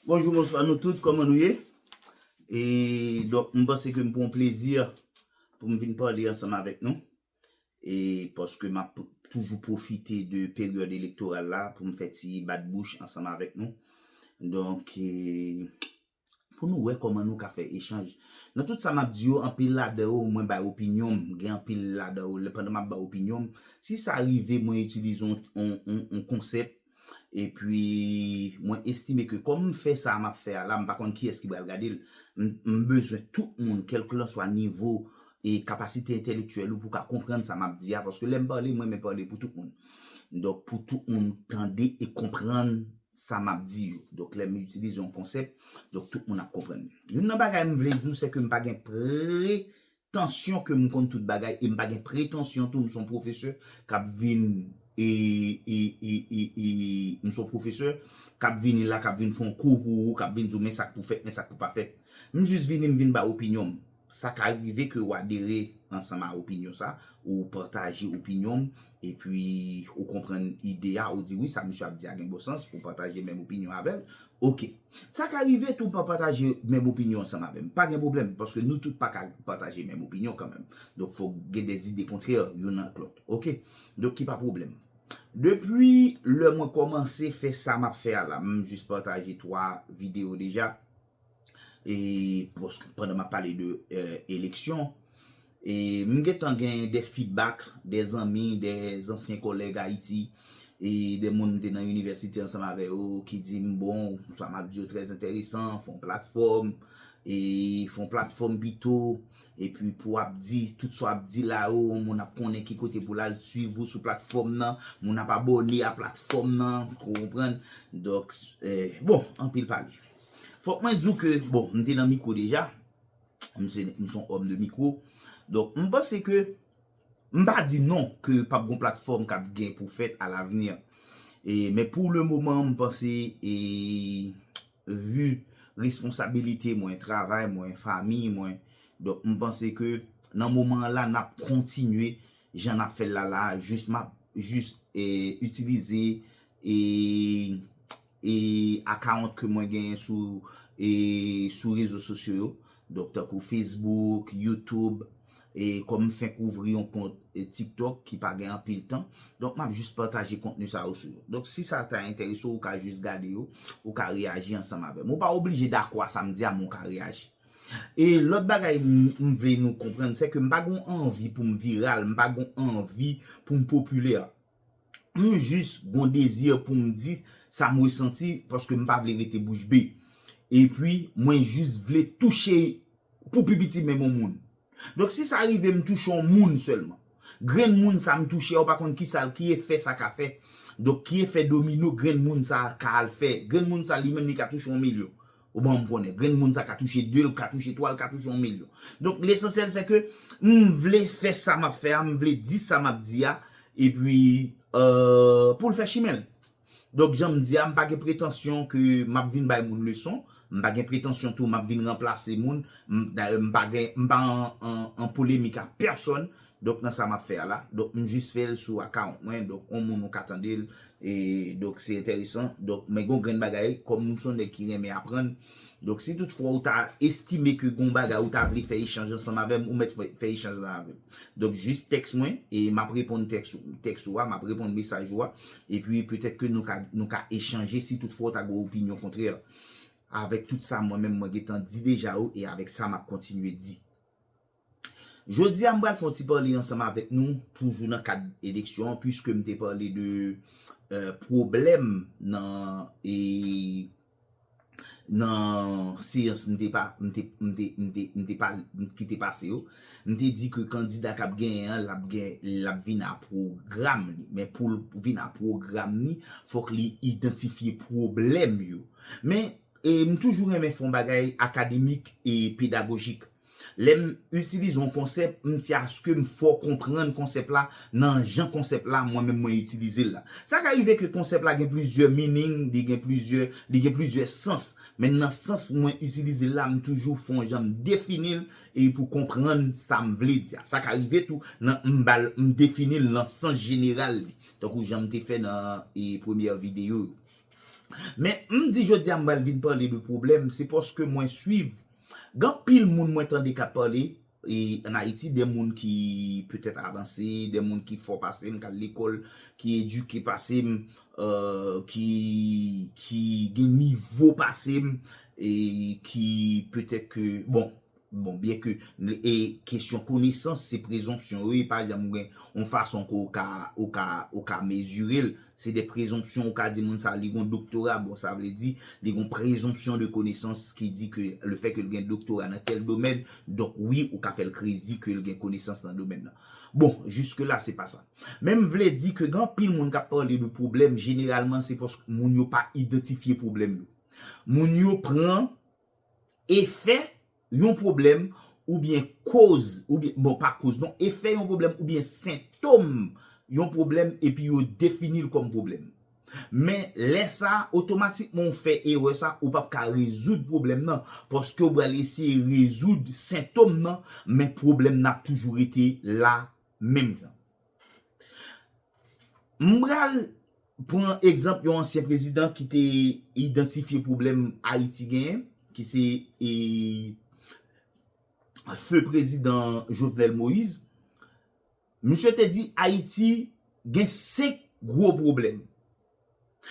Bonjou bonswa nou tout kòman nou ye e donk m panse ke m pou yon plezi pou m vin pale ansanm avèk nou e paske m ap toujou pwofite de peryòd elektoral la pou m fè ti bat bouch ansanm avèk nou donk e pou nou wè kòman nou ka fè echanj. Nan tout sa map di yo anpil ladan yo mwen bay opinyon m, gen anpil ladan yo pandan map bay opinyon m, si sa rive mwen itilize yon konsèp epi mwen estime ke kòm m fè sa map fè a la m pa konn kiyès ki pral gade l, m bezwen tout moun kèlkilanswa nivo e kapasite entèlektyèl ou pou ka konprann sa map di a paske lè m pale mwen renmen pale pou tout moun. Donk pou tout moun tande e konprann sa m ap di yo. Donk lè m itilize yon konsèp, donk tout moun ap konprann li. Youn nan bagay m vle di w, se ke m pa gen pretansyon ke m konn tout bagay e m pa gen pretansyon tou m se yon pwofesè k ap vin e, e, e, e, e, m se yon pwofesè k ap vini la, k ap vin fè yon kou pou ou, k ap vin di w men sa k pou fèt, men sa k pou pa fèt. M jis vini m vin bay opinyon m. Sa ka rive ke ou adere ansanm a opinyon sa, ou pataje opinyon m, epi ou konprann ide a, ou di wi sa misye ap di a gen bon sans, ou pataje menm opinyon avè l, ok. Sa ka rive tou ou pa pataje menm opinyon ansanm avè m, pa gen pwoblèm, paske nou tout pa ka pataje menm opinyon kanmenm. Donk fòk gen dè ide kontrè youn ak lòt, ok. Donk ki pa pwoblèm. Depi lè mwen kòmanse fè sa m ap fè a la, m jis pataje 3 videyo deja. e pandan map pale de eleksyon e m gentan gen de feedback de zanmi, de zansyen kòlèg Ayiti e de moun m te nan inivèsite ansanm avè yo ki di m bon sa map di yo trè enteresan fon platfòm e fon platfòm pito epi pou ap di tout sa wap di la yo moun ap konnen ki kote pou l al swiv ou sou platfòm nan moun ap abòne a platfòm nan ou konprann donk bon anpil pale. Fòk mwen di w ke, bon, m te nan mikwo deja, m se, m son òm de mikwo, donk m panse ke, m pa di non ke pap gon platfòm kap gen pou fèt a lavni, e men pou le moman m panse e vi responsabilite mwen, travay mwen, fami mwen, donk m panse ke nan moman an la nap kontinye jan nap fè l la la, jis map, jis e itilize e. e akawont ke mwen genyen sou e sou rezo sosyo yo donk tankou Facebook YouTube e kòm m fenk ouvri yon kont TikTok ki pa gen anpil tan donk map jis pataje kontni sa yo sou yo donk si sa ta enterese w ou ka jis gade yo ou ka reyaji ansanm avè m ou pa oblije dakò a sa m di a men w ka reyaji e lòt bagay m vle nou konprann se ke m pa gen yon anvi pou m viral m pa gen yon anvi pou m popilè M jis gon dezi pou m di sa m resanti paske m pa vle rete bouch be. Epi mwen jis vle touche pou pi piti menm yon moun. Donk si sa rive m touche yon moun sèlman. Grenn moun sa m touche a ou pa konn ki sa l, ki efè sa ka fè. Donk ki efè domino grenn moun sa ka al fè. Grenn moun sa li menm li ka touche yon milyon. Ou ban m konnen. Grenn moun sa ka touche 2, l ka touche 3, l ka touche yon milyon. Donk lesansyèl se ke m vle fè sa m ap fè a, m vle di sa m ap di a, epi pou l fè chimen l. Donk jan m di a, m pa gen pretansyon ke m ap vin bay moun leson, m pa gen pretansyon tou m ap vin ranplase moun, dayè m pa gen, m pa an polemik ak pèsòn, Donk nan sa map fè a la. Donk m jis fèl sou account mwen donk on moun ou ka tandel e donk se entèresan donk men gon grenn bagay kòm m son nèg ki renmen aprann donk si tout fwa ou ta estime ke gon bagay ou ta vle fè echanj ansanm avèm ou mèt fè echanj la avèm donk jis tèks mwen e map reponn tèks ou tèks ou a map reponn mesaj ou a epi petèt ke nou ka nou ka echanje si tout fwa ou ta gen opinyon kontrè avèk tout sa mwen menm mwen gentan di deja ou e avèk sa map kontinye di. Jodi a m pral fè yon ti pale ansanm avèk nou toujou nan kad eleksyon an puiske m te pale de pwoblèm nan seyans m te pase yo. M te di ke kandida k ap genyen an l ap gen l ap vin a pwogram li men pou l vin a pwogram li fòk li idantifye pwoblèm yo. Men m toujou renmen fè yon bagay akademik e pedagojik. Lè m itilize yon konsèp, m ti aske m fò konprann konsèp la nan jan konsèp la mwen menm mwen itilize l la. Sa ka rive ke konsèp la gen plizyè meaning, li gen plizyè, li gen plizyè sans, men nan sans mwen itilize l la m toujou fè yon jan m defini l e pou konprann sa m vle di a. Sa ka rive tou nan m ba l, m defini l nan sans jeneral li, tankou jan m te fè nan e premyè videyo yo. Men m di jodi a m pral vin pale de pwoblèm, se paske mwen swiv Gen anpil moun mwen tande k ap pale an Ayiti, de moun ki petèt avanse, de moun ki fò pase m, k al lekòl, ki edike pase m, ki gen nivo pase m, ki petèt ke, bon, bon, byen ke kesyon konesans se prezonpsyon, e pa janm gen yon fason ke ou ka mezire l. Se de prezonpsyon ou ka di moun sa li gon doktora bon sa vle di li gon prezonpsyon de konesans ki di ke le fè ke l gen doktora nan tèl domèn donk wi ou ka fè l kredi ke l gen konesans nan domèn nan. Bon jiske la se pa sa men m vle di ke gen anpil moun k ap pale de pwoblèm jeneralman se paske moun yo pa idantifye pwoblèm yo moun yo pran efè Yon pwoblèm oubyen koz oubyen, bon pa koz non, efè yon pwoblèm oubyen sentom yon pwoblèm epi yo defini l kòm pwoblèm. Men, lè sa, otomatikman ou fè erè sa, ou pap ka rezoud pwoblèm nan, paske ou pral eseye rezoud sentom nan, men pwoblèm nan ap toujou rete la menm jan. M pral pran egzanp yon ansyen prezidan ki te idantifye pwoblèm Ayiti genyen, ki se feu prezidan Jovenel Moïse. Misye te di Ayiti gen 5 gwo pwoblèm.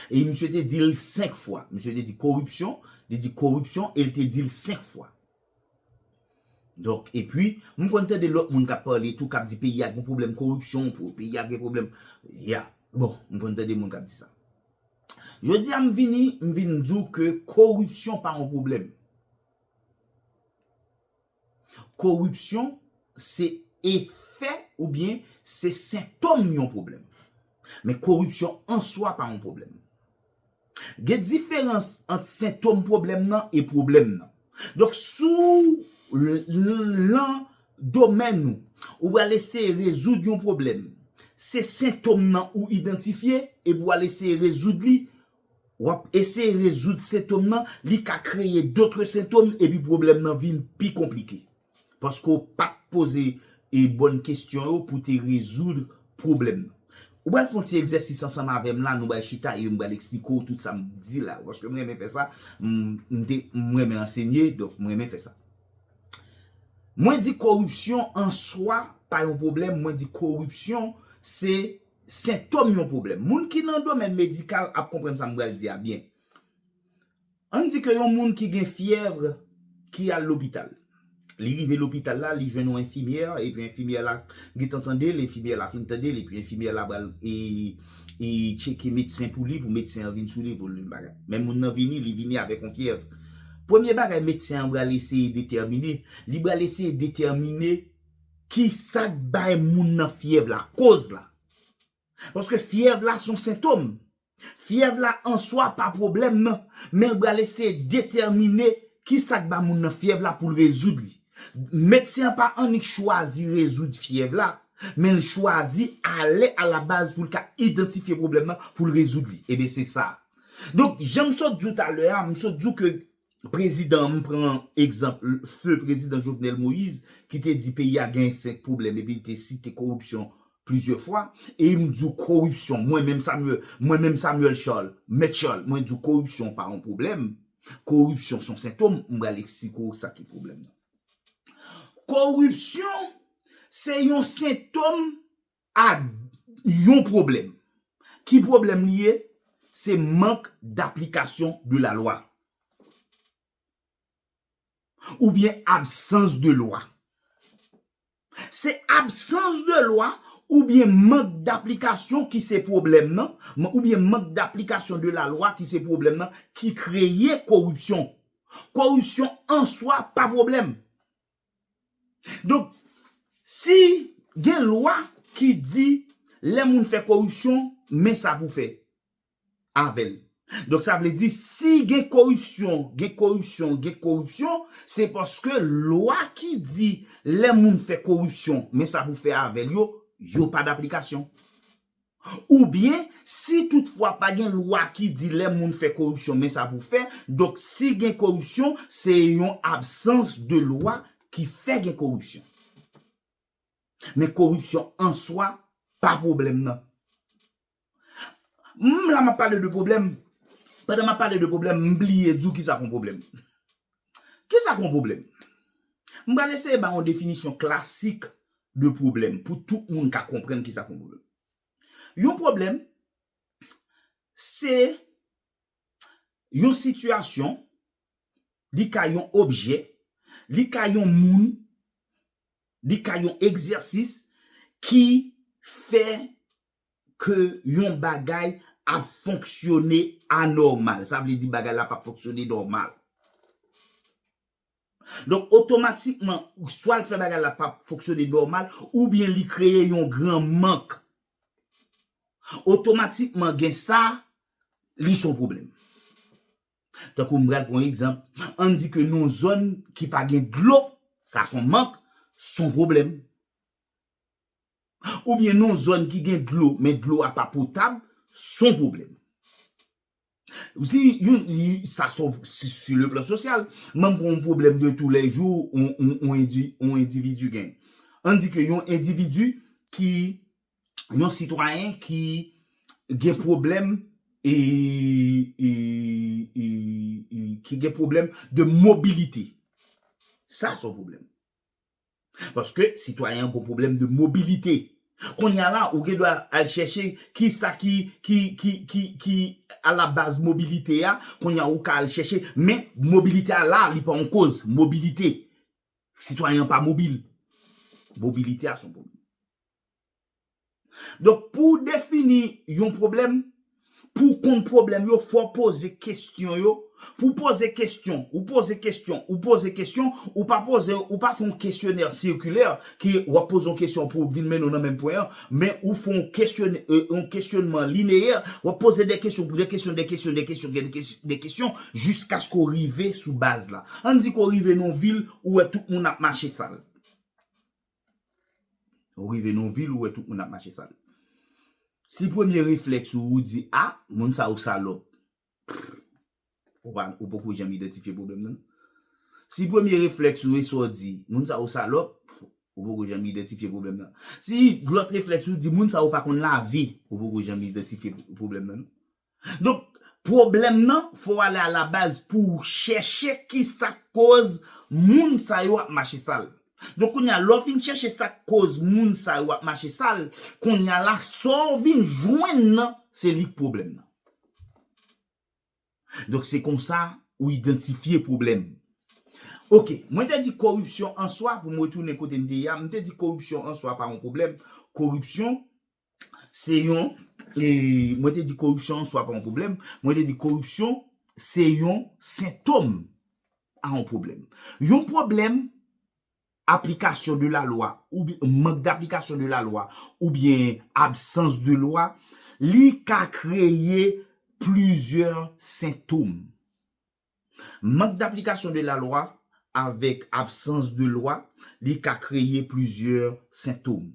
E misye te di l 5 fwa. Misye te di koripsyon, li di koripsyon e li te di l 5 fwa. Donk, epi, m konn tande lòt moun k ap pale tou, k ap di peyi a gen pwoblèm koripsyon, peyi a gen pwoblèm, ya, bon, m konn tande moun k ap di sa. Jodi a m vini, m vin di w ke koripsyon pa yon pwoblèm. Koripsyon se efè oubyen se sentom yon pwoblèm. Men koripsyon an swa pa yon pwoblèm. Gen diferans ant sentom pwoblèm nan e pwoblèm nan. Donk si w lan domèn ou, ou pral eseye rezoud yon pwoblèm, se sentom nan ou idantifye epi w al eseye rezoud li, w ap eseye rezoud sentom nan, li ka kreye dotre sentom epi pwoblèm nan vin pi konplike. Paske w pa t poze e bòn kesyon yo pou te rezoud pwoblèm nan. Ou pral fè yon ti egzèsis ansanm avè m la, nou pral chita e m pral esplike w tout sa m di la yo. Paske m renmen fè sa, m te, m renmen ansenye, donk m renmen fè sa. Mwen di koripsyon an swa pa yon pwoblèm, mwen di koripsyon se sentòm yon pwoblèm. Moun ki nan domèn medikal ap konprann sa m pral di a byen. Ann di ke yon moun ki gen fyèv ki al lopital. Li rive lopital la, li jwenn yon enfimyè, epi enfimyè la gentan tande l, enfimyè la fin tande l, epi enfimyè la pral tcheke medsen pou li, pou medsen an vin sou li, pou l bagay. Men moun nan vini, li vini avèk yon fyèv. Premye bagay medsen an pral eseye detèmine, li pral eseye detèmine ki sa k bay moun nan fyèv la, koz la. Paske fyèv la son sentom. Fyèv la answa pa pwoblèm nan, men l pral eseye detèmine ki sa k ba moun nan fyèv la pou l rezoud li. Medsen an pa annik chwazi rezoud fyèv la, men l chwazi ale alabaz pou l ka idantifye pwoblèm nan pou l rezoud li. Eben se sa. Donk, jan m sot di w talè a, m sot di w ke Prezidan m pran egzanp feu prezidan Jovenel Moïse ki te di peyi a gen 5 pwoblèm epi li te site koripsyon plizyè fwa e m di w koripsyon mwen menm Samuel mwen menm Samuel Charles mèt Charles mwen di w koripsyon pa yon pwoblèm koripsyon son sentom m pral eksplike w sa ki pwoblèm nan koripsyon se yon sentom a yon pwoblèm. Ki pwoblèm li ye? Se mank daplikasyon de la lwa. Oubyen absans de lwa. Se absans de lwa oubyen mank daplikasyon ki se pwoblèm nan, oubyen mank daplikasyon de la lwa ki se pwoblèm nan ki kreye koripsyon. Koripsyon an swa pa pwoblèm. Donk, si gen lwa ki di lè moun fè koripsyon, men sa pou fè avè l. Donk sa vle di si gen koripsyon, gen koripsyon, gen koripsyon, se paske lwa ki di lè moun fè koripsyon, men sa pou fè avè l yo, yo pa daplikasyon. Oubyen, si tout fwa pa gen lwa ki di lè moun fè koripsyon men sa pou fè, donk si gen koripsyon se yon absans de lwa ki fè gen koripsyon. Men koripsyon an swa pa pwoblèm nan. M la m ap pale de pwoblèm, pandan m ap pale de pwoblèm m bliye di w ki sa k on pwoblèm. Kisa k yon pwoblèm? M pral eseye bay yon definisyon klasik de pwoblèm pou tout moun ka konprann kisa k yon pwoblèm. Yon pwoblèm se yon sitiyasyon, li ka yon objè, li ka yon moun, li ka yon egzèsis ki fè ke yon bagay ap fonksyone anòmal. Sa vle di bagay la pap fonksyone nòmal. Donk otomatikman, swa l fè bagay la pap fonksyone nòmal, oubyen li kreye yon gran mank. Otomatikman gen sa, li son pwoblèm. Tankou m pral pran egzanp, an di ke nou zòn ki pa gen dlo, sa son mank, son pwoblèm. oubyen nan yon zòn ki gen dlo men dlo a pa potab, son pwoblèm. Si yon, sa son, si le plan sosyal, m'en pran yon pwoblèm de tou lè jou yon endividi gen. An di ke yon endividi ki, yon sitwayen ki gen pwoblèm e, e, e, e, ki gen pwoblèm de mobilite. Sa son pwoblèm. Paske sitwayen an gon pwoblèm de mobilite. Kounye a la ou gen dwa al chèche kisa ki ki alabaz mobilite a, kounye a ou ka al chèche men mobilite a la li pa yon koz mobilite. Sitwayen an pa mobil. Mobilite a son pwoblèm. Donk pou w defini yon pwoblèm, pou w konn pwoblèm yo fò w poze kesyon yo, pou w poze kesyon, ou poze kesyon, ou poze kesyon, ou pa poze, ou pa fè yon kesyonè sikilè ke w ap poze yon kesyon pou vin mennen w nan menm pwen an, men ou fè yon kesyon, yon kesyonman lineyè, w ap poze de kesyon, de kesyon, de kesyon, de kesyon, de kesyon jiskaske w rive sou baz la. Ann di ke w rive nan yon vil ou wè tout moun ap mache sal. Ou rive nan yon vil ou wè tout moun ap mache sal. Si premye reflèks ou ou di a, moun sa yo salòp. Ou poko janm idantifye pwoblèm nan. Si premye reflèks ou e sa ou di, moun sa yo salòp, ou poko janm idantifye pwoblèm nan. Si lòt reflèks ou di moun sa yo pa konn lavi, ou poko janm idantifye pwoblèm nan. Donk, pwoblèm nan, fò w ale a la baz pou w chèche ki sa k koz moun sa yo ap mache sal. Donk kounye a, lè w fin chèche sa k koz moun sa yo ap mache sal, kounye a la, sa w vin jwenn nan, se li k pwoblèm nan. Donk se kon sa ou idantifye pwoblèm. Ok, mwen te di koripsyon an swa, pou m retounen kote m te ye a, m te di koripsyon an swa pa yon pwoblèm, koripsyon se yon, mwen te di koripsyon an swa pa yon pwoblèm, mwen te di koripsyon se yon sentom a yon pwoblèm. Yon pwoblèm aplikasyon de la lwa, mank d'aplikasyon de la lwa, ou byen absans de lwa, li ka kreye plizyè sentom. Mank daplikasyon de lalwa avèk absans de lwa li ka kreye plizyè sentom.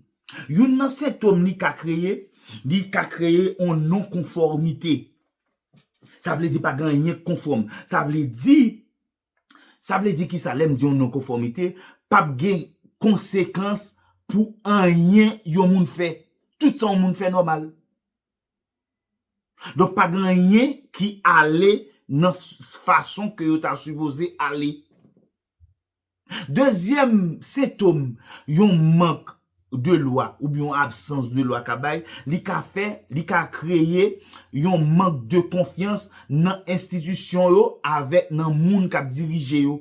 Youn nan sentom li ka kreye, li ka kreye on non konfòmite. Sa vle di pa gen anyen k konfòm. Sa vle di, sa vle di kisa lè m di on non konfòmite, pap gen konsekans pou anyen yon moun fè. Tout sa on moun fè nòmal. Donk pa gen anyen ki ale nan fason ke yo ta sipoze ale. Dezyèm sentom yon mank de lwa oubyen yon absans de lwa ka bay, li ka fè, li ka kreye yon mank de konfyans nan enstitisyon yo avèk nan moun k ap dirije yo.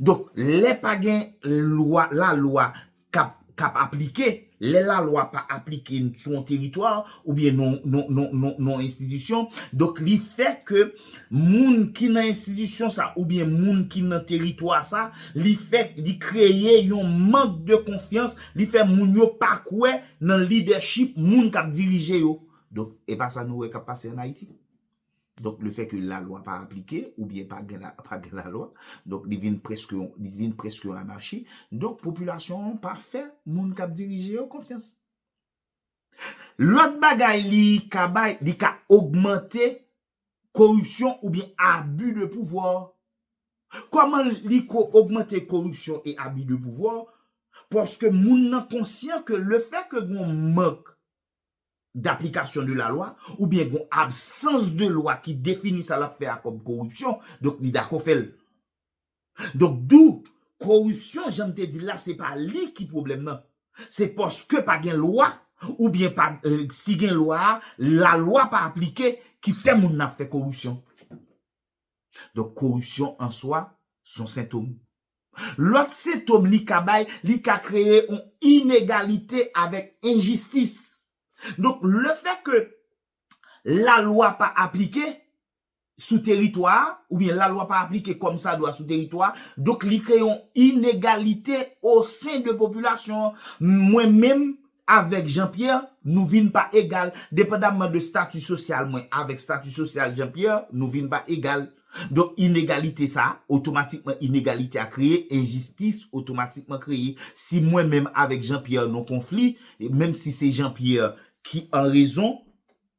Donk lè pa gen lwa la lwa kap kap aplike lè la lwa pa aplike sou yon teritwa oubyen non non non non non enstitisyon donk li fè ke moun ki nan enstitisyon sa oubyen moun ki nan teritwa sa li fè li kreye yon mank de konfyans li fè moun yo pa kwè nan lidèchip moun kap dirije yo donk epa sa nou wè kap pase an Ayiti. Donk le fè ke lalwa pa aplike oubyen pa gen pa gen lalwa, donk li vin prèske yon li vin prèske yon anachi, donk popilasyon an pa fè moun k ap dirije yo konfyans. Lòt bagay li ka bay, li ka ogmante koripsyon oubyen abi de pouvwa. Kòman li ko ogmante koripsyon e abi de pouvwa? Paske moun nan konsyan ke le fè ke gen yon mank d'application de la loi ou byen gon absans de lwa ki defini sa lap fè a kòm koripsyon, donk li dakò fè l. Donk dou, koripsyon jan m te di l la se pa li ki pwoblèm nan, se paske pa gen lwa ou byen pa si gen lwa a, la lwa pa aplike ki fè moun nan ap fè koripsyon. Donk koripsyon an swa son sentom. Lòt sentom li ka bay, li ka kreye on inegalite avèk enjistis. Donk le fè ke la lwa pa aplike sou teritwa a, oubyen la lwa pa aplike kòm sa dwa sou teritwa a, donk li kreye on inegalite o sen de popilasyon an. Mwen menm, Avèk Jean Pierre, nou vin pa egal. Depandamman de stati sosyal mwen avèk stati sosyal Jean Pierre, nou vin pa egal. Donk inegalite sa a, otomatikman inegalite a kreye, enjistis otomatikman kreye. Si mwen menm avèk Jean Pierre nou konfli, menm si se Jean Pierre ki an rezon,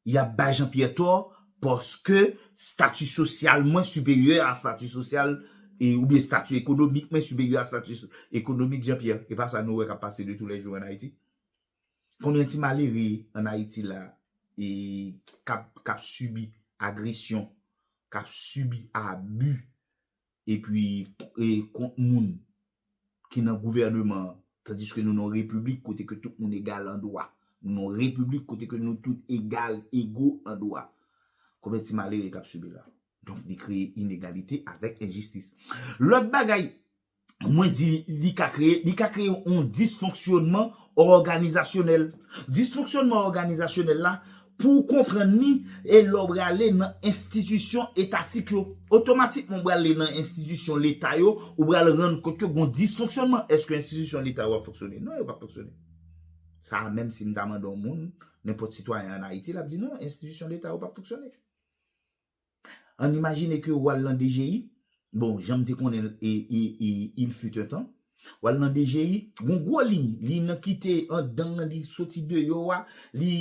Y ap bay Jan Pyè tò paske stati sosyal mwen siperyè a stati sosyal oubyen stati ekonomik mwen siperyè a stati ekonomik Jan Pyè. E pa sa nou wè k ap pase de tou lè jou ann Ayiti? Konbyen ti malere ann Ayiti la e k ap k ap sibi agresyon, k ap sibi abi epi kont moun ki nan gouvèneman an, tandiske nou nan yon repiblik kote ke tout moun egal an dwa. Nou nan yon repiblik kote ke nou tout egal, ego an dwa. Konbyen ti malere k ap sibi la? Donk li kreye inegalite avèk enjistis. Lòt bagay mwen di li ka kreye, li ka kreye yon disfonksyònman òganizasyonèl. Disfonksyònman òganizasyonèl la. Pou ou konprann li, e lè w prale nan enstitisyon etatik yo, otomatikman ou prale nan enstitisyon leta yo, ou pral rann kont ke gon disfonksyònman. Èske enstitisyon leta yo ap fonksyone? Non, yo pap fonksyone. Sa a menm si m ta mande yon moun, nenpòt sitwayen an Ayiti, l ap di non, enstitisyon leta yo pap fonksyone. Ann imajine ke ou al nan DGI, bon, jan m te konnen l e e il fut un temps, ou al nan DGI, gon gwo liy, liy nan kite anndan an, li soti deyò a, li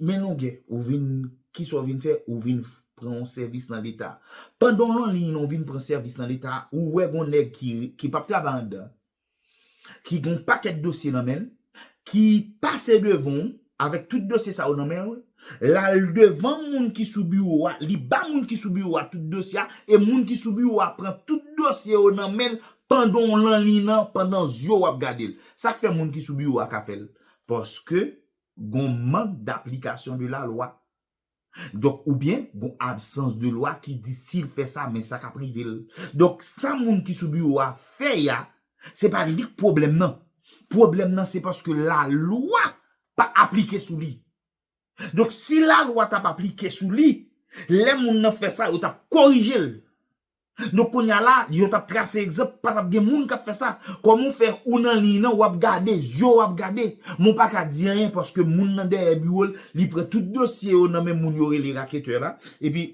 men longè, ou vin, ki sa ou vin fè, ou vin pran yon sèvis nan Leta. Pandan w lan liy nan ou vin pran sèvis nan Leta a, ou wè gon nèg ki ki p ap travay anndan. ki gen yon pakèt dosye nan men l, ki pase devan w avèk tout dosye sa yo nan men l, l al devan moun ki sou biwo a, li ba moun ki sou biwo a tout dosye a, e moun ki sou biwo a pran tout dosye yo nan men l pandan w lan liy nan, pandan zye w ap gade l. Sa k fè moun ki sou biwo a ka fè l? Paske gen yon mank daplikasyon de lalwa Donk oubyen gon absans de lwa ki di si l fè sa men sa k ap rive l. Donk sa moun ki sou biwo a fè a, se pa li k pwoblèm nan. Pwoblèm nan se paske lalwa pa aplike sou li. Donk si lalwa t ap aplike sou li, lè moun nan fè sa yo t ap korije l. Donk kounya la yo tap trase egzanp pa tap gen moun kap fè sa kòman ou fè ou nan liy nan wap gade zye w ap gade men w pa ka di anyen paske moun nan dèyè biwo l li pran tout dosye yo nan men moun yo rele raketè la epi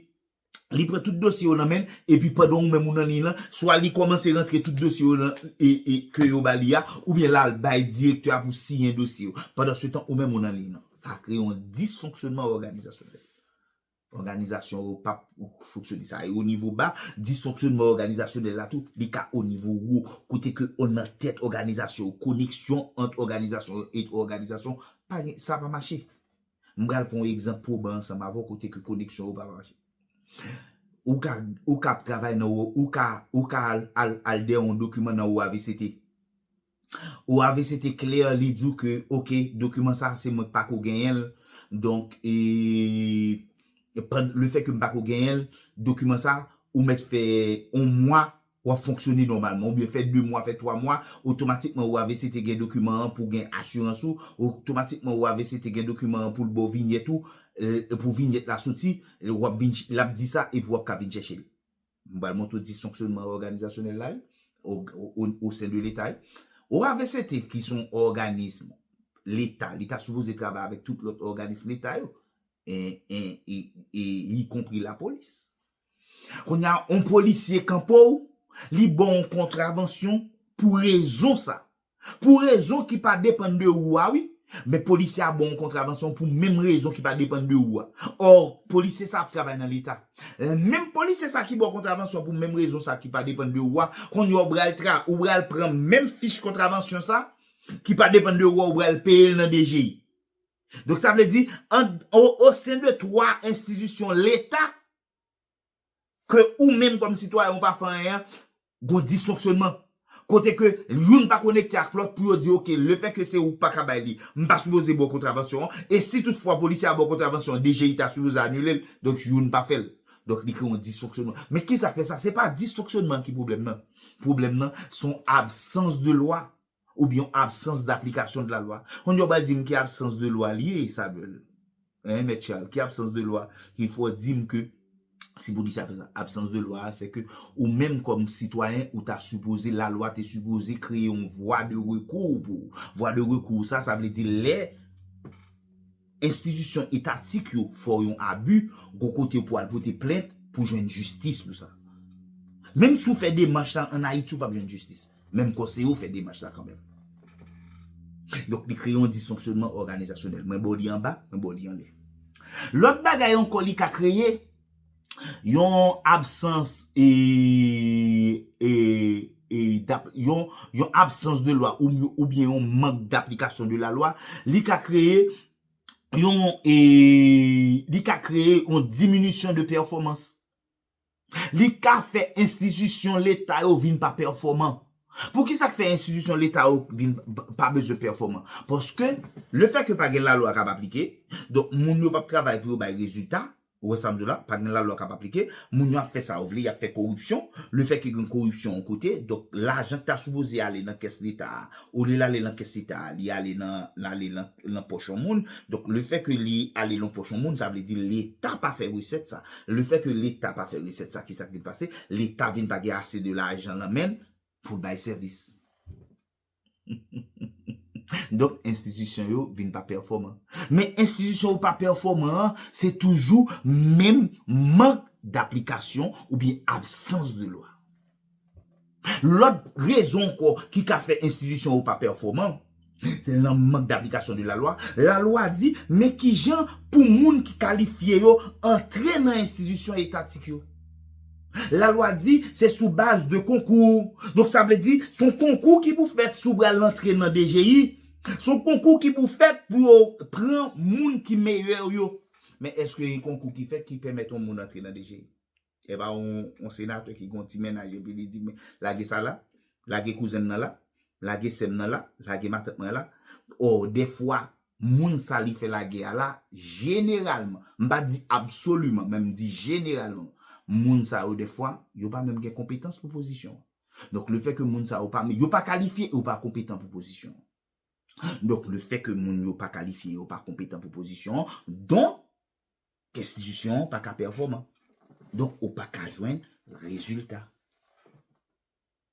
li pran tout dosye yo nan men l epi pandan ou menm ou nan liy lan swa li kòmanse rantre tout dosye yo nan e e ke yo ba li a oubyen la l bay direktè a pou siyen dosye yo pandansetan ou menm ou nan liy nan sa kreye yon disfonksyònman òganizasyonèl. Òganizasyon yo pap fonksyone. Sa e o nivo ba, disfonksyonman òganizasyonèl la tou, li ka o nivo wo, kote ke o nan tèt òganizasyon yo, koneksyon ant òganizasyon yo et òganizasyon pa gen, sa pa mache. M pral pran yon egzanp pwoban ansanm avè w kote ke koneksyon yo pa va mache. Ou ka, ou ka ap travay nan, ou ka, ou ka al, al, al dèyè yon dokiman nan OAVCT. Ou ave se te klè li diw ke ok dokiman sa se mwen k pako genyenl donk e le fè ke m pako genyenl dokiman sa ou mèt fè on mwa wap fonksyone nòmalman oubyen fè 2 mwa fè 3 mwa otomatikman ou ave se te gen dokiman an pou gen asirans ou otomatikman ou ave se te gen dokiman an poul baw vinyèt ou pou vinyèt la soti wap vin lap di sa epi wap ka vin chèchel. M pral montre w disfonksyonman òganizasyonèl la wi, o sen de leta wi. OAVCT ki son òganism leta, li ta sipoze travay avèk tout lòt òganism leta yo, y konpri lapolis. Kounye a, on polisye kanpe w, li ba w on kontravansyon pou rezon sa. Pou rezon ki pa depann de ou a wi. Men polisye a baw yon kontravansyon pou menm rezon ki pa depann de ou a. Or, polisye sa ap travay nan leta. Menm polisye sa ki baw kontravansyon pou menm rezon sa ki pa depann de ou a, konnya ou pral tra, ou pral pran menm fich kontravansyon sa ki pa depann de ou a ou pral peyel nan DGI. Donk sa vle di, an, o sen de 3 enstitisyon leta, ke ou menm kòm sitwayen ou pa fè anyen an, gon disfonksyonman. Kote ke youn pa konekte ak lòt pou yo di ok, le fè ke se ou k pa ka bay li, m pa sipoze ba w kontravansyon an, e si tout fwa polisye a ba w kontravansyon an, DGI ta sipoze anile l, donk youn pa fè l. Donk li kreye yon disfonksyonman. Men kisa k fè sa? Se pa disfonksyonman an ki pwoblèm nan. Pwoblèm nan, se yon absans de lwa ou byen yon absans d'application de la loi konn yo pral dim ki absans de lwa li ye Samuel hein mèt Charles ki absans de lwa ki fè w dim ke se pou disa fè sa absans de lwa se ke ou menm kòm sitwayen ou ta sipoze la lwa te sipoze kreye yon vwa de rekou pou ou vwa de rekou sa sa vle di lè. Enstitisyon etatik yo fè w yon abi, gon kote pou al pote plent pou jwenn jistis pou sa. Menm si w fè demach la an Ayiti ou pap jwenn jistis. Men m konseye w fè demach la kanmenm. Donk li kreye yon disfonksyonman òganizasyonèl. Mwen ba w li anba, mwen ba w li anlè. Lòt bagay ankò li ka kreye. Yon absans de lwa oubyen yon mank daplikasyon de la lwa, li ka kreye yon diminisyon de pèfòmans. Li ka fè enstitisyon leta yo vin pa pèfòman. Pou ki sa k fè enstitisyon leta yo vin pa bezwen pèfòman? Paske, le fè ke pa gen la lwa k ap aplike, donk moun yo p ap travay pou yo bay rezilta, Ou wè sa m di w la, pa gen lalwa k ap aplike, moun yo ap fè sa yo vle, y ap fè koripsyon, lefètke gen koripsyon yon kote, donk lajan ki ta sipoze ale nan kès Leta a, olye l ale nan kès Leta a, li ale nan, l ale nan, nan pòch yon moun, donk lefètke li ale nan pòch yon moun, sa vle di Leta pa fè resèt sa, lefètke Leta pa fè resèt sa, ki sa k vin pase, Leta vin pa gen ase de lajan nan men l pou l bay sèvis. Donk enstitisyon yo vin pa pèfòman. Men enstitisyon yo pa pèfòman an, se toujou menm mank daplikasyon oubyen absans de lwa. Lòt rezon ankò ki ka fè enstitisyon yo pa pèfòman, se nan mank daplikasyon de lalwa. Lalwa di men kijan pou moun ki kalifye yo antre nan enstitisyon etatik yo. Lalwa di se sou baz de konkou. Donk sa vle di s on konkou ki pou fèt si w pral antre nan DGI. S on konkou ki pou fèt pou yo pran moun ki meyè yo. Men èske gen konkou ki fèt ki pèmèt on moun antre nan DGI? E pa on senatè ki gen on ti mennaj epi li di men lage sa la, lage kouzen m nan la, lage sè m nan la, lage matant mwen la. Ò dèfwa moun sa li fè lagè a la, jeneralman, m pa di absoliman, men m di jeneralman, moun sa yo dèfwa, yo pa menm gen konpetans pou pozisyon an. Donk le fè ke moun sa yo pa, yo pa kalifye, yo pa konpetan pou pozisyon an. Donk le fè ke moun yo pa kalifye, yo pa konpetan pou pozisyon an, donk, enstitisyon an pa ka pèfòman. Donk ou pa ka jwenn rezilta.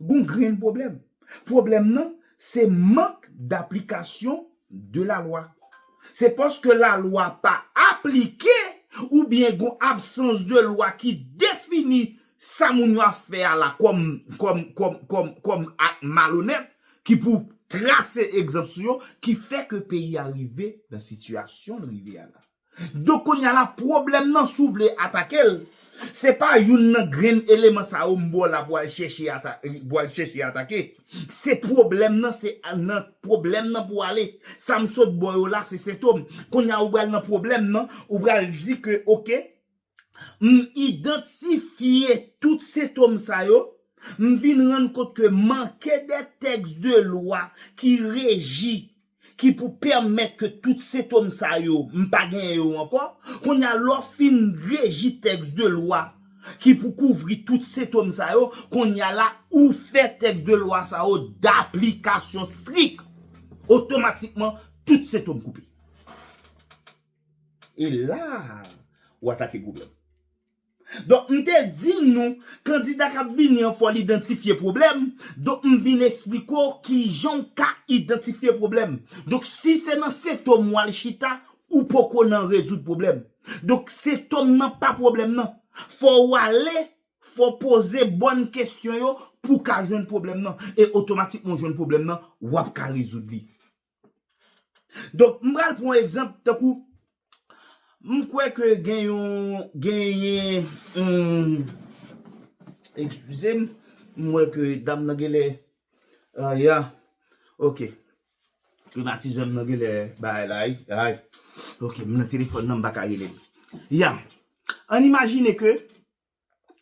Gon grenn pwoblèm. Pwoblèm nan se mank daplikasyon de la lwa. Se paske la lwa pa aplike ou byen gon absans de lwa ki defini sa moun yo ap fè a la kòm kòm kòm kòm kòm ak malonèt ki pou trase egzanp sou yo ki fè ke peyi a rive nan sitiyasyon l rive a la. Donk kounya la pwoblèm nan si w vle atake l, se pa youn nan grenn eleman sa yo m ba w la pou w al chèche pou w al chèche atake. Se pwoblèm nan se nan pwoblèm nan pou w ale. Sa m sot ba w yo la se sentom. Kounya ou pral nan pwoblèm nan, ou pral di ke ok, M idantifye tout sentom sa yo, m vin rann kont ke manke de tèks de lwa ki reji, ki pou pèmèt ke tout sentom sa yo, m pa genyen yo ankò. Kounye a, lè w fin reji tèks de lwa ki pou kouvri tout sentom sa yo, kounye a la, ou fè tèks de lwa sa yo daplikasyon strik. Otomatikman, tout sentom koupe. E la ou atake pwoblèm. Donk m te di nou kandida k ap vini an fò l idantifye pwoblèm, donk m vin esplike w kijan w ka idantifye pwoblèm. Donk si se nan sentom w al chita, ou poko nan rezoud pwoblèm. Donk sentom nan pa pwoblèm nan. Fò ou ale, fò w poze bòn kesyon yo pou w ka jwenn pwoblèm nan. E otomatikman w jwenn pwoblèm nan, w ap ka rezoud li. Donk m pral pran yon egzanp tankou m kwè ke gen yon genyen ekskize m m wè ke dam nan genlè ya ok klimatizè m nan genlè bay la ay ok m nan telefòn nan m pa ka rele l ya an n imajine ke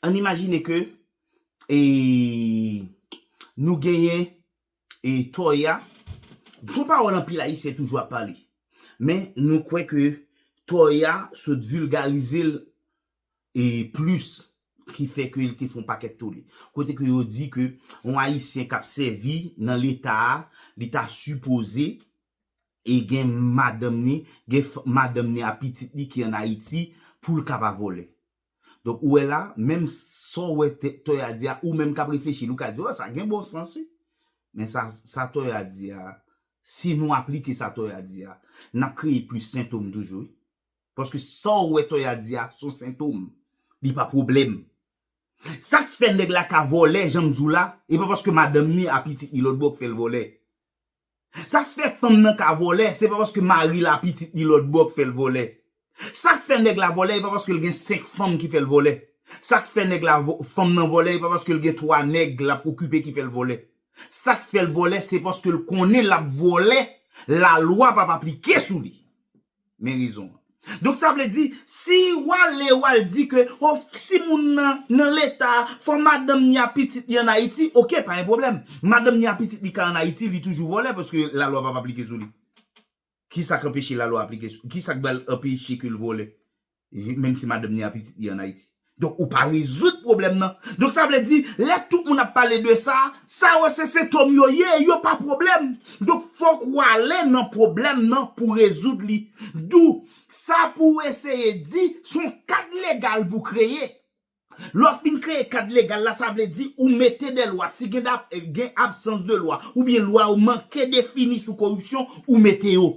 Ann imajine ke e nou genyen e Toya, son pawòl anpil Ayisyen toujou ap pale. Men nou kwè ke Toya sot vilgarize l e plis ki fè ke li te fon pakèt tole. Kote ke yo di ke yon Ayisyen k ap sèvi nan leta a, li ta sipoze e gen madanm ni, gen madanm ni a pitit ni ki an Ayiti pou l ka pa vòlè. Donk ou wè la, menm sa w wè Toya di a, ou menm k ap reflechi li, ou ka di, o, sa gen bon sans wi. Men sa, sa Toya di a, si nou aplike sa Toya di a, n ap kreye plis sentom toujou wi. Paske sa w wè Toya di a, s on sentom, li pa pwoblèm. Sa k fè nèg la ka vòlè, jan m di w la, e pa paske madanm ni a pitit li lòtbò k fè l vòlè. Sak fè fanm nan ka vòlè se pa paske maril a pitit li lòtbò k fèl vòlè. Sak fè nèg la vòlè e pa paskel gen 5 fanm ki fèl vòlè. Sak fè nèg la fanm nan vòlè e pa paskel gen 3 nèg lap okipe ki fèl vòlè. Sak fèl vòlè se paskel konnen lap vòlè lalwa pap aplike sou li. Men rezon an. Donk sa vle di, si w ale w al di ke o si moun nan nan leta a fò madanm ni a pitit li an Ayiti, ok pa gen pwoblèm. Madanm ni a pitit li ka an Ayiti li toujou vòlè paske lalwa p ap aplike sou li. Kisa k anpeche lalwa aplike sou, kisa k ba l anpeche ke l vòlè? Menm si madanm li a pitit li an Ayiti. Donk ou pa rezoud pwoblèm nan. Donk sa vle di, lè tout moun ap pale de sa, sa yo se sentòm yo ye, yo pa pwoblèm. Donk fòk ou ale nan pwoblèm nan pou rezoud li. Dou, sa pou ou eseye di, son kad legal pou kreye. Lè w fin kreye kad legal la sa vle di ou mete de lwa si gen da gen absans de lwa oubyen lwa yo manke defini sou koripsyon ou mete yo.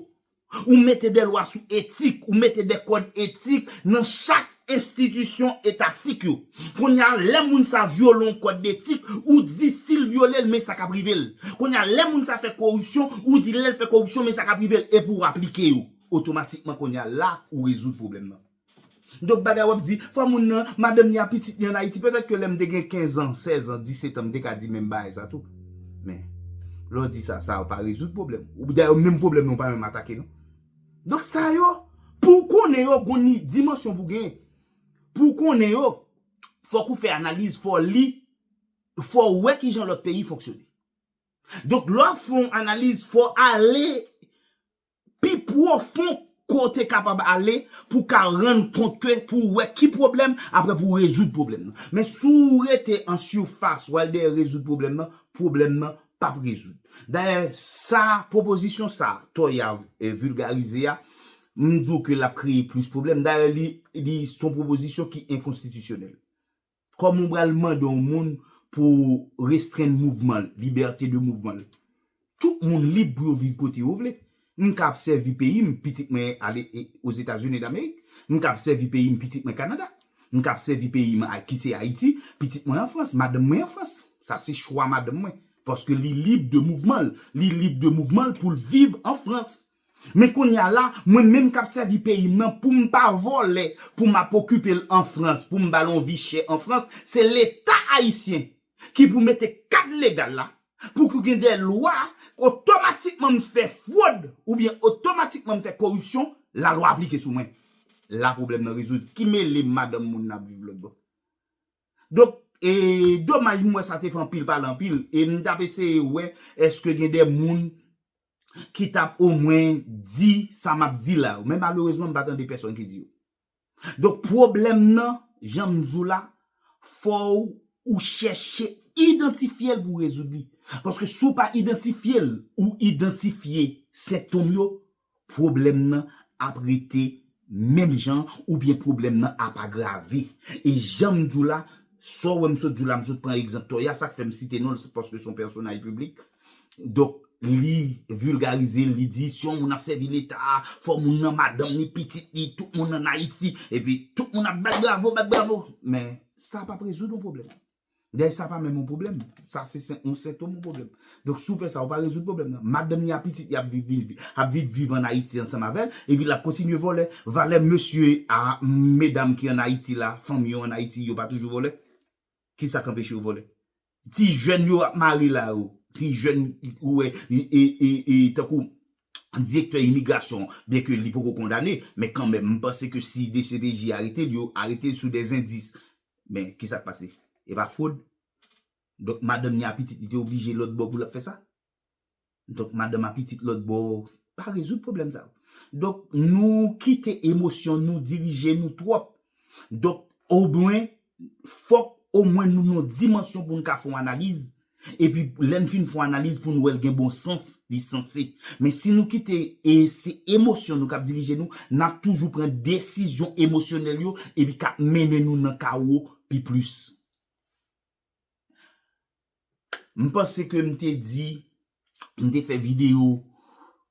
Ou mete de lwa sou etik, ou mete de kòd etik nan chak enstitisyon etatik yo. Kounye a lè moun sa vyole yon kòd detik ou di si l vyole l men sa k ap rive l. Kounye a lè moun sa fè koripsyon ou di lè l fè koripsyon men sa k ap rive l epi w aplike yo. Otomatikman kounye a la ou rezoud pwoblèm nan. Donk bagay wap di, fwa moun nan, madanm li a pitit li an Ayiti, petèt ke lèm te gen 15 ans, 16 ans, 17 ans m te ka di menm bagay sa tou. Men, lè w di sa, sa pa rezoud pwoblèm. Dayè menm pwoblèm nan ou pa menm atake non. Donk sa yo, pou w konnen yo, gon ni dimansyon pou w genyen. Pou w konnen yo, fòk ou fè analiz, fò w li, fò w wè kijan lòt peyi fonksyone. Donk lè w ap fè yon analiz, fò w ale pi pwofon ke w te kapab ale pou w ka rann kont ke pou w wè ki pwoblèm apre pou w rezoud pwoblèm nan. Men si w rete an sifas w al dèyè rezoud pwoblèm nan, pwoblèm nan p ap rezoud. Dayè sa pwopozisyon sa Toyav vilgarize a, m di w ke l ap kreye plis pwoblèm. Dayè li se yon pwopozisyon ki enkonstitisyonèl. Kòman ou pral mande yon moun pou restrenn mouvman l, libète de mouvman l? Tout moun lib pou yo viv kote yo vle. M ka ap sèvi peyi m, pitit mwen ale Ozetazini Damerik. M ka ap sèvi peyi m, pitit mwen Kanada. M ka ap sèvi peyi m ki se Ayiti, pitit mwen an Frans, madanm mwen an Frans. Sa se chwa madanm mwen. Paske li lib de mouvman l. Li lib de mouvman l pou l viv an Frans. Men kounya la mwen menm kap sèvi peyim nan poum pa vòlè pou map okipel an frans poum bal on vi chè an frans se leta ayisyen ki pou mete kad legal la pou ki gen de lwa otomatikman m fè fwod oubyen otomatikman m fè koripsyon la lwa aplike sou mwen la pwoblèm nan rezoud ki melem madanm moun nan ap viv lòt bò donk e domaj m wè sa te fè anpil pale anpil e m tap eseye wè eske gen de moun ki tap omwen di sa map di la yo men malerezman m pa tande pèsòn ki di yo donk pwoblèm nan janm di w la fò ou chèche idantifye l pou rezoud li paske si w pa idantifye l ou idantifye sentom yo pwoblèm nan ap rete menm jan oubyen pwoblèm nan ap agrave e janm di w la sa w wè m sot di w la m sot pran egzanp Toya sak fè m site non l se paske son pèsonaj piblik donk li vilgarize l li di si yon moun ap sèvi leta fò moun nan madanm ni pitit ni tout moun an Ayiti epi tout moun ap bat bravo bat bravo men sa pap rezoud yon pwoblèm. Dayè sa pa menm yon pwoblèm. Sa se yon sentom yon pwoblèm. Donk si w fè sa, ou pa rezoud pwoblèm nan. Madanm li ak pitit li ap vin viv an Ayiti ansanm avè l, epi l ap kontinye vòlè. Valè mesye a, medam ki an Ayiti la, fanm yo an Ayiti, yo pa toujou vòlè? Ki sa k anpeche yo vòlè? Ti jèn yo ap mare la yo, ti jèn ou wè e tankou direktè imigrasyon, byenke li poko kondane, men kanmenm m panse ke si dcpj arete l, yo arete l sou dèzendis. Men, ki sa k pase? E pa fwod? Donk, madanm ni a pitit li te oblije lòt bò pou l ap fè sa? Donk, madanm a pitit lòt bò pa rezoud pwoblèm sa yo. Donk, nou kite emosyon nou dirije nou twòp. Donk, omwen, fòk omwen nou nan yon dimansyon pou nou ka fè yon analiz Epi lè n fin fon analiz pou n wè l gen bon sans, li sanse. Men si nou kite e se emosyon nou k ap dirije nou, n ap toujou pran desizyon emosyonèl yo epi k ap mennen nou nan kawo pi plis. M panse ke m te di, m te fè videyo,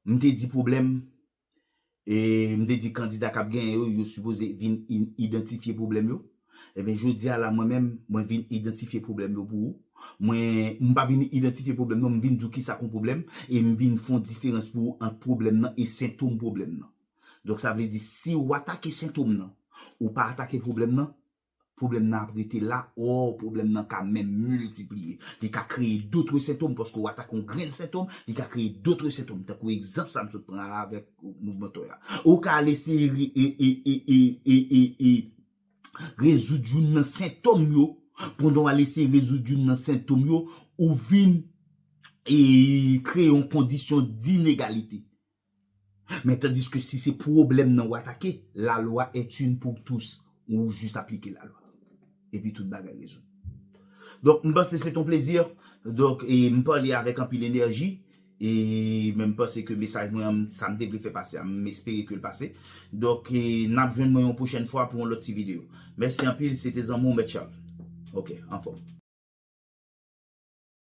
m te di pwoblèm e m te di kandida k ap genyen yo, yo sipoze vin idantifye pwoblèm yo. Enben jodi a la mwen menm, mwen vin idantifye pwoblèm yo pou ou. Mwen, m pa vin idantifye pwoblèm non, m vin di w kisa k on pwoblèm e m vin fè yon diferans pou ou ant pwoblèm nan e sentom pwoblèm nan. Donk sa vle di si ou atake sentom nan, ou pa atake pwoblèm nan, Pwoblèm nan ap rete la, or pwoblèm nan ka menm miltipliye. Li ka kreye dotre sentom paske w atake yon grenn sentom, li ka kreye dotre sentom tankou egzanp sa m sot pran la avèk mouvman tòy la. Ou ka al eseye rezoud youn nan sentom yo, pandan w al eseye rezoud youn nan sentom yo, ou vin kreye yon kondisyon d'inegalite. Men tandiske si se pwoblèm nan ou atake, la loi est une pour tous, ou jis aplike la lwa. Epi tout bagay rezoud. Donk m panse se te yon plezi, donk e m pale avèk anpil enèji, e men m panse ke mesaj mwen an, sa m te vle fè pase a, m espere ke l pase. Donk e n ap jwenn mwen yon pwochèn fwa pou yon lòt ti videyo. Mèsi anpil, se te zanmi w Mèt Charles. Ok, anfòm.